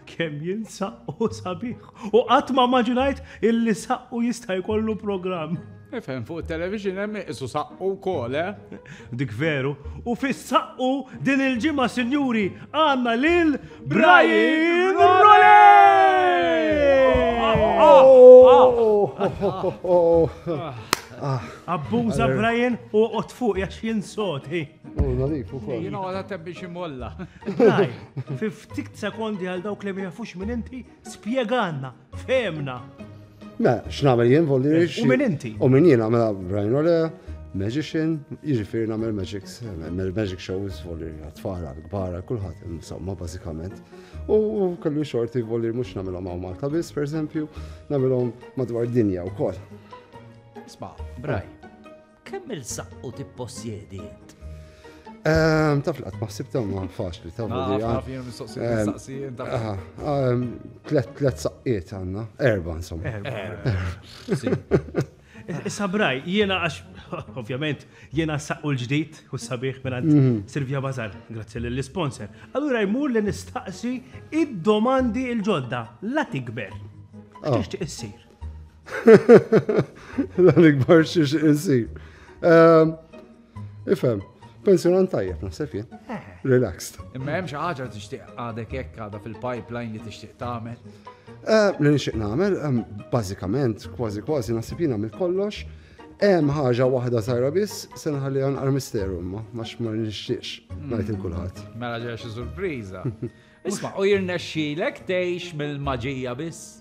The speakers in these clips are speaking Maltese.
Kemm jien saqqu sabiħ. U qatt ma maġinajt illi saqqu jista' jkollu programm. Ifhem fuq it-television hemm isu saqqu wkoll, eh? Dik veru. U fis-saqqu din il-ġimgħa sinjuri għandna lil Brian Rolej! Abbuża Brian u qod fuq jax jinsot, hi. U nadif u koll. Jina għala tebbi ximolla. Daj, fi ftit sekondi għal dawk li mjafux minn inti, spieganna, femna. Me, x'nagħmel jien volli U minn inti? U minn jien għamela Brian Ole, magician, jiġifieri nagħmel magics, nagħmel magic shows volli għatfal għal-kbar kulħadd insomma bażikament. U kellu xorti volli mhux nagħmilhom hawn Malta biss, pereżempju, nagħmilhom madwar dinja wkoll. Sma, Brian. Kemm il-saqqu tippossjedi int? Ehm, taf laqt maħsib ta' ma faċli ta' vodi. Tlet saqqiet għanna, erba insomma. Sabraj, jiena għax, ovvjament, jiena saqqu l-ġdijt u sabiħ minn mhm. Silvia Bazar, grazzi l-sponsor. Allura jmur li nistaqsi id-domandi il-ġodda, la tikber. Tixtieq issir. La nikbar xiex insir. Ehm, ifem, pensjonant tajjeb, naħseb jien. Eh. Relaxed. Imma hemm xi ħaġa li tixtieq għadek hekk għadha fil-pipeline li tixtieq tagħmel. Eh, li nixtieq nagħmel, ehm, bażikament, kważi kważi naħseb jien għamil kollox. Hemm ħaġa waħda sajra biss se nħalli għan armisteru imma ma xmar nixtiex hmm. ngħid il kulħadd. Mela ġew xi surpriża. Isma' u jirnexxilek tgħix mill-maġija biss.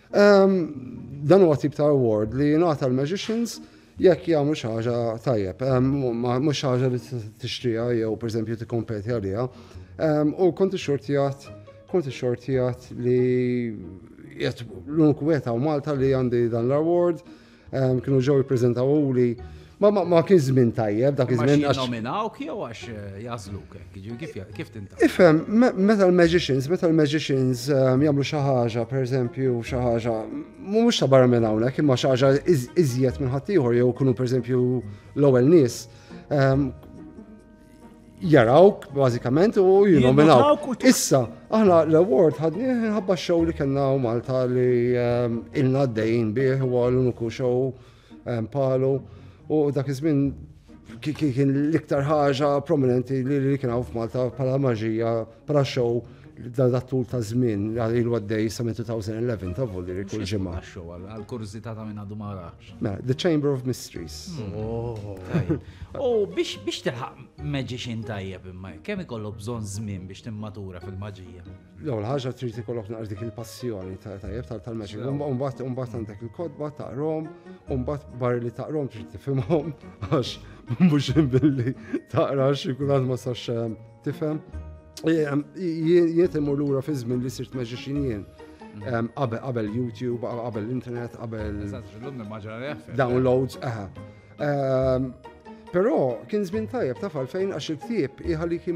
Dan huwa tip ta' award li jingħata l-magicians jekk jagħmlu xi ħaġa tajjeb, mhux xi ħaġa li tixtriha jew pereżempju tikkompeti għaliha. U kont ixxortijat, kont ixxortijat li jett l-unik wieħed Malta li għandi dan l-award Kienu ġew jippreżentaw li ma ma ma kien żmien tajjeb dak iż-żmien għax. Nominawk jew għax eh, jażluk hekk, jiġifieri kif kif tinta. Ifhem, meta l-magicians, meta l-magicians ehm, jagħmlu xi ħaġa, pereżempju xi ħaġa, mhux ta' barra minn hawnhekk, imma xi ħaġa iżjed minn ħaddieħor jew kunu pereżempju l-ewwel nies. Ehm, jarawk bażikament u jinominawk. Issa, aħna l-award ħadni ħabba xow li kellna u Malta li ehm, ilna d-dejn bih u l-uniku xow ehm, palu u dak iż-żmien kien l-iktar ħaġa prominenti li kien hawn f'Malta bħala maġija Pra show dan tul ta' żmien għal ilu għaddej sa' 2011 ta' volli li kull ġimgħa. Għal kurżità ta' minn għadu ma rax. Mela, The Chamber of Mysteries. Oh, U biex biex tilħaq magician tajjeb imma kemm ikollok bżonn żmien biex timmatura fil-maġija. L-ewwel ħaġa trid ikollok naqra dik il-passjoni ta' tajjeb tal- tal-magic. Sew. Umba- Umbagħad umbagħad għandek il-kodba taqrom, umbagħad barri li taqrom trid tifhimhom għax mhux billi taqra xi kulħadd ma sax eh, Tifhem? Jiet imur lura fi żmien li sirt magician jien. Mm. Qabel YouTube, qabel internet, qabel. Downloads, aha. Però kien żmien tajjeb taf għalfejn għax il-ktieb iħalik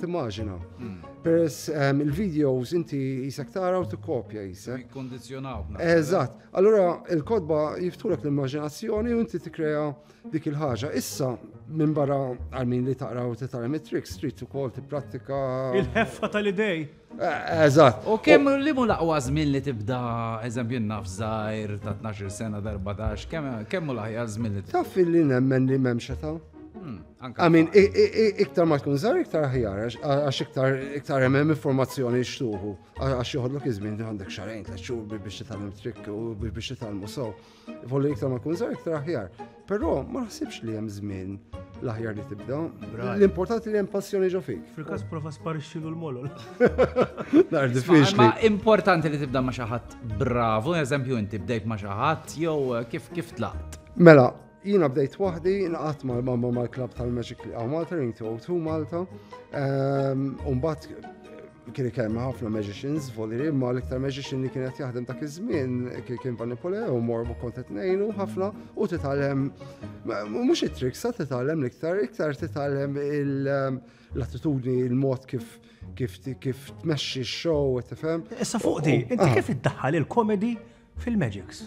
timmaġina. Hmm. Peress ehm, il-videos inti jisek tara u tikkopja jisek. Kondizjonaw. Eżatt. Allura il-kodba jiftulek l-immaġinazzjoni u inti tikkrea dik il-ħaġa. Issa, minn barra għalmin li taqra u titgħallem it-trick, street ukoll tipprattika. Il-ħeffa tal-idej. Eh, eżatt. U kemm li mu laqwa żmien li tibda eżempju naf żgħir ta' 12 sena darba dax, kemm mu laħja żmien li Taf li nemmen li m'hemm xeta. Hmm, Għamin, iktar ma tkun żgħar iktar ħjar, għax iktar iktar hemm informazzjoni xtuħu, għax joħodlok iż-żmien għandek xarajn tliet xhur biex titgħallem trick u biex titgħallmu sew. Ivollu iktar ma tkun żgħar iktar aħjar. Però ma naħsibx li hemm żmien l-aħjar li tibda. L-importanti li hemm passjoni ġo fik. Fil-każ prova sparixxilu l-molol. Nar diffiċli. Ma importanti li tibda ma' xi ħadd bravu, eżempju inti bdejt ma' xi ħadd jew eh, kif kif tlaqt. Mela, jina bdejt wahdi, naqat ma' mamma ma' klab tal-Magic Malta, Ring to Malta, ehm, un bat Kien ikellem ma' ħafna magicians voliri, ma' l-iktar magician li kienet jaħdem dak iż-żmien kien Van Poleo, mor kont qed ngħinu ħafna u titgħallem mhux it-tricks, sa titgħallem l-iktar, iktar titgħallem l-attitudni, il-mod kif kif kif tmexxi x-show, tifhem. Issa fuq di, inti ah. kif iddaħħal il-komedi fil-magics?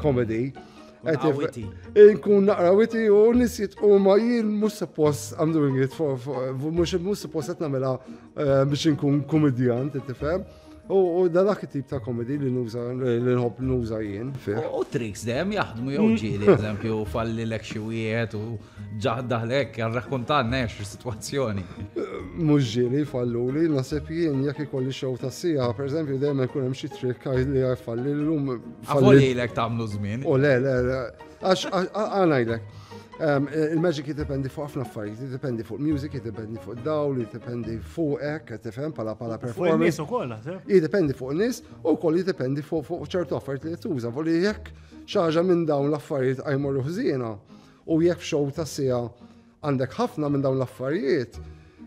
Comedy. Inkun naqra witi u nisit u ma jien mux suppost I'm doing it for, mux mux suppost għetna mela eh, biex inkun komedjan, t-tifem. U dan dak tip ta' komedi li nuża li nħobb nuża jien. U tricks dem jaħdmu jew mm. ġieli, eżempju, falli l xi wieħed u Ġaħda l-ek, għarrakuntanna ex il-situazzjoni. Mux ġiri falluli, nasib jien jek ikolli xow ta' sija, per eżempju, dejjem ikun hemm xi trikk li għajfalli l-lum. Għafoli jilek tamlu zmin. U le, le, le, għax għanajlek. Il-magic jiddependi fuq ħafna affarijiet, jiddependi fuq music, jiddependi fuq dawl, jiddependi fuq hekk, qed tifhem pala pala performance. Fuq ukoll naħseb. Jiddependi fuq nies u wkoll jiddependi fuq ċertu affarijiet li tuża, voli jekk xaġa minn dawn l-affarijiet għajmorru ħżiena, U jekk f'show ta' siegħa għandek ħafna minn dawn l-affarijiet,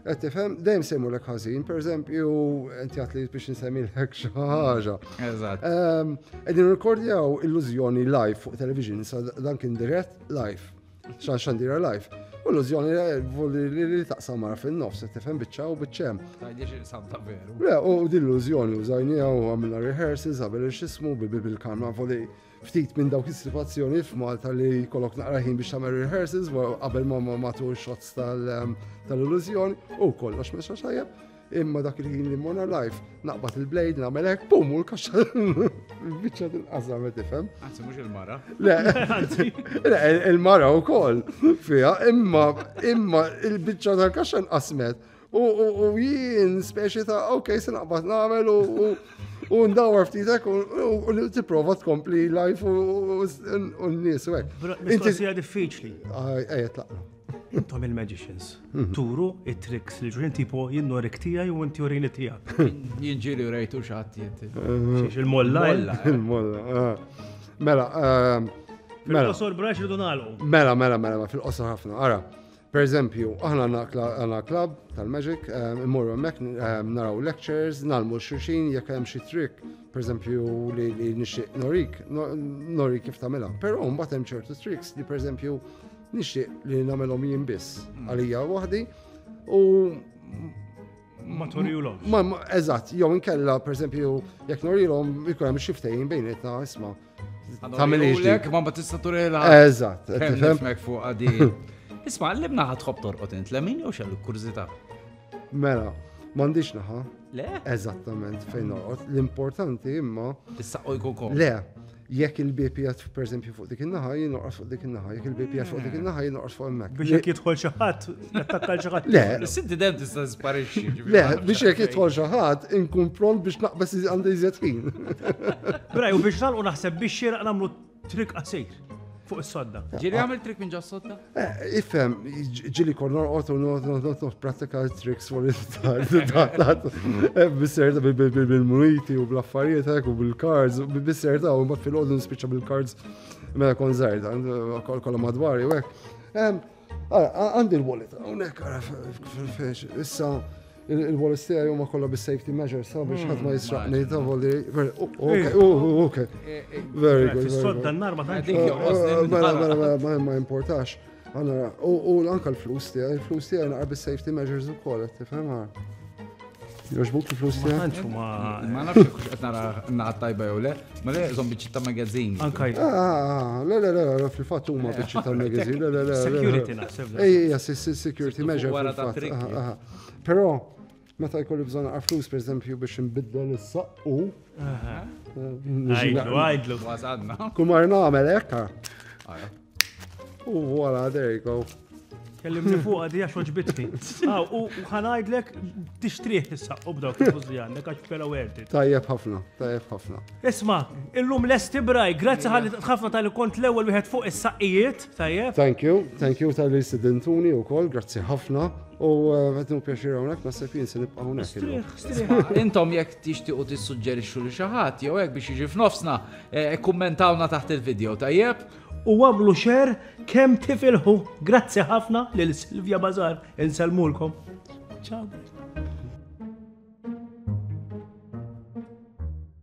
qed tifhem dejjem se jmurlek ħażin, pereżempju inti għad li biex insemmilek xi ħaġa. Eżatt. Ehm, qegħdin rikordjaw illużjoni live fuq television, sa dan kien dirett live, xan xandira live. U illużjoni li taqsam mara fin-nofs, qed tifhem biċċa u biċċem. Tajdiex il-sam ta' veru. Le, u din illużjoni użajnija u għamilna rehearsals, għamil xismu, bil-kamra voli Ftit minn dawk is-sitwazzjoni f'Malta li jkollok naqra ħin biex tagħmel rehearsals qabel ma ma matul shots ehm, tal-illużjoni u kollox mexa xajjeb. Imma dak il-ħin li mona life naqbad il-blade nagħmel hekk pum u l-kaxxa biċċa tinqażam qed tifhem. Anzi mhux il-mara. Le, le il-mara wkoll fiha imma imma il-biċċa tal-kaxxa nqasmet. U jien speċi ta' ok, se naqbad nagħmel u ndawar ftitek u tipprova tkompli life u n-nies u hekk. Inti sija diffiċli. Ejja tlaqna. Intom il-magicians. Mhm. Turu it-tricks li ġurin tipo jinnori ktija ju inti urini tija. Jinġili urejtu xaħti jinti. Xiex il-molla. Il-molla. Eh? Eh, eh. Mela, mela. Fil-qosor braċ ridu Mela, mela, mela, fil-qosor ħafna. Ara. Pereżempju, aħna għandna klabb tal-Magic, ehm, immorru hemmhekk ehm, naraw lectures, nalmu xulxin jekk hemm xi trick, pereżempju li nixtieq norik, norik kif tagħmilha. Però mbagħad hemm ċertu tricks li pereżempju nixtieq li nagħmelhom jien biss mm. għalija waħdi u ma torilhom. Eżatt, jew inkella pereżempju jekk norilhom ikun hemm xi ftehim bejnietna isma' Tamilix lek, ma ma tista' turela. Eżatt. Nifhmek fuq għadi. Isma' li bnaħa tħobb torqod int lemin jew xellu kurżità. Mela, m'għandix naħa. Le? Eżattament fejn noqgħod. L-importanti imma. Issa jkun kom. Le, jekk il-BP jgħat per fuq dik il-naħa, jien noqgħod fuq dik il-naħa, jekk il-BP jgħat fuq dik il-naħa, jien noqgħod fuq il-mek. Biex jekk jidħol xi ħadd Nattakka l-ġaħat. Le. Sinti dem tista' sparixxi. Le, biex jekk jidħol xi ħadd inkun pront biex naqbes għandi iżjed ħin. Bra, u biex nagħlqu naħseb biex xieraq nagħmlu trik qasir fuq is-sodda. Ġiri għamil trik minn ġas sodda? Eh, ifhem, ġili kon norqot u norqot pratika triks fuq il-tat. Eh, bisserta bil-muniti u bl-affarijiet eh, u bil-cards, bisserta u ma fil-għodu nispiċa bil-cards mela kon zaħir, kolla madwari u hekk. Għandi l-wallet, għonek għara fil-fex, issa il-wallet stija jumma kolla bis-safety measures, sa biex ħat ma jisraqni, ta' voli, ok, ok, very good. Fis-sodda n-nar ma tanti. Mela, mela, mela, ma importax. Għanna, u anka l-flus tija, l-flus tija naqra bis-safety measures u kolla, tifhem għar. Joġbuk il-flus Ma tantx huma ma nafx kux qed nara naħat tajba jew le, ma le żom biċċi ta' magazine. Anka jgħid. Ah, ah, ah, Le, le, le, le, fil-fatt huma eh, biċċi tal-magazine. Le, le, le. Security naħseb. Ej, ej, ej, security measure. Wara ta' trick. Però, meta jkolli bżonn għal flus, per eżempju, biex nbiddel is-saqqu. Għajdlu, għajdlu. Wasadna. Kumar nagħmel hekk. U voila, there you go. Kellimni fuq għadi għax oġbitni. Ah, u ħanajdlek tixtriħ issa u b'daw kif għandek għax pera werti. Tajjeb ħafna, tajjeb ħafna. Isma, illum lesti braj, grazzi ħalli ħafna tal kont l-ewwel wieħed fuq is-saqqijiet, tajjeb. Thank you, thank you tal-li sidintuni u kol, grazzi ħafna. U għetnu eh, pjaxir għonek, ma sepin se nibqa għonek. Intom jek tixti u tissuġġerixxu li xaħat, jew jek biex iġi f'nofsna, eh, kommentawna taħt il-video, tajjeb? u għamlu share kemm tifilħu. Grazzi ħafna lil Silvia Bazar. Insellmulkom. Ciao.